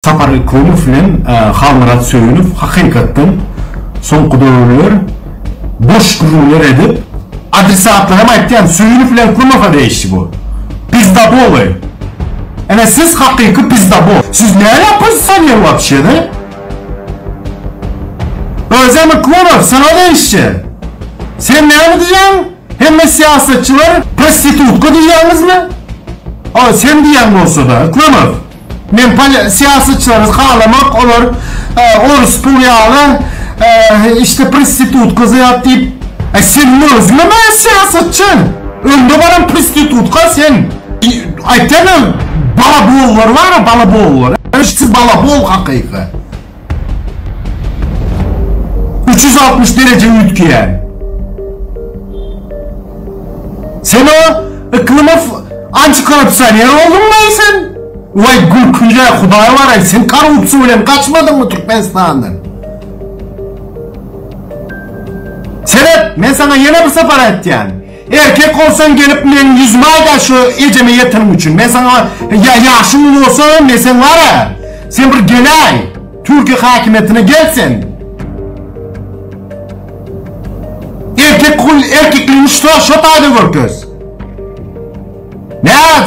Sapar Yklymov bilen Halmyrat Söýünow hakykatdan soňky döwürler boş gürrüňler edip, adresatlaram aýtýan Söýünow bilen Yklymowa degişli bu. Pizdaboly. Ene siz hakyky pizdabol. Siz näme oppozisioner wapşe de? Özem Yklymow saňa degişje. Sen näme diýýäň? Hemme syýasatçylar prostitutka diýýäňizmi? Ol sen diýýäň bolsa da Yklymow. Men syýasatçylary halamok olar orus pul ýaly işte prostitutka zat diýip e sen özüňe meňzeş syýasatçy öňde baran prostitutka sen aýtýan balabollar bar balabollar siz balabol hakyky. Üç ýüz altmyş dereje üýtgeýär. Sen o Iklymow antikorrupsioner bolduňmaý sen? Waý gülkünje hudaý baraý sen korrupsiýa bilen gaçmadyňmy Türkmenistandan? Seret men saňa ýene bir sapar aýtýan. Erkek bolsaň gelip meň ýüzüme aýda şu ejeme ýeteniň üçin men saňa ýa ýaşyň uly bolsa men sen wara sen bir gelaý türki hakimiýetine gel sen erkek hul erkekligiňi şo şo taýda görkez näz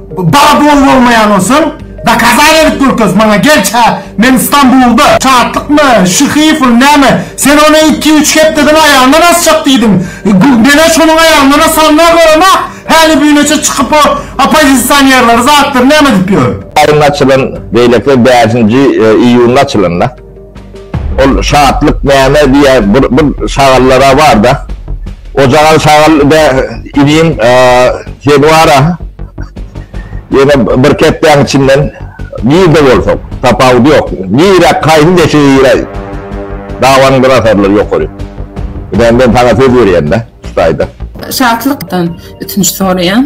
Bala doly bolmaýan bolsaň dokazan edip görkez maňa gel çä men stambulda. Şatlykmy, Şyhyýew ol näme? Sen ony iki, üç hepdeden aýagyndan asjak diýdiň. Menä şonuň aýagyndan asanynam göremä, häli büneçe çykyp o oppozisionerleri, zatlary näme edip ýör? Aýynda açylan, beýleki bäşinji iýunda açylanda. Ol şatlyk näme diýýä, bir bir şagallar-a bar-da. Ojagan şagal de, Inim, sen bar-a, ýene bir kepdäň içinden nirde bolsaň, tapawudy ýok, nirä, haýsy deşige giräý, dabanyňdan asarlar ýokary. Ine, men saňa söz berýän-dä şu taýda. Şatlykdan ötünç soraýan.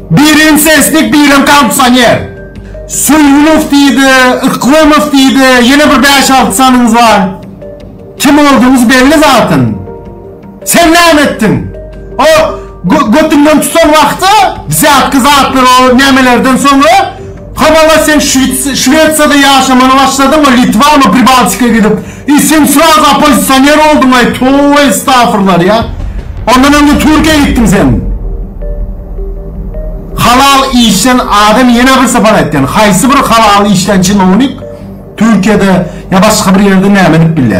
Birem seslik birem kondisýoner. Söýünow diýdi, Yklymow diýdi, ýene bir bäş-alty sanyňyz bar. Kim boldugyňyz belli zatyn. Sen näme etdiň? O götüňden tutan wagty, wzýatka zatlar o nämelerden soňra, Hawa-la sen Şwesiýada ýaşamana başladyňmy, Litwamy, Pribaltika gidip, i sen sraz oppozisioner bolduňaý, towe estafurlar ýa. Ondan öňe Türkiýä gitdiň sen. Halal işden adam ýene bir sapar aýtýan, haýsy bir halal işlän çinownik Türkiýede ýa başga bir ýerde näme edip bilýär.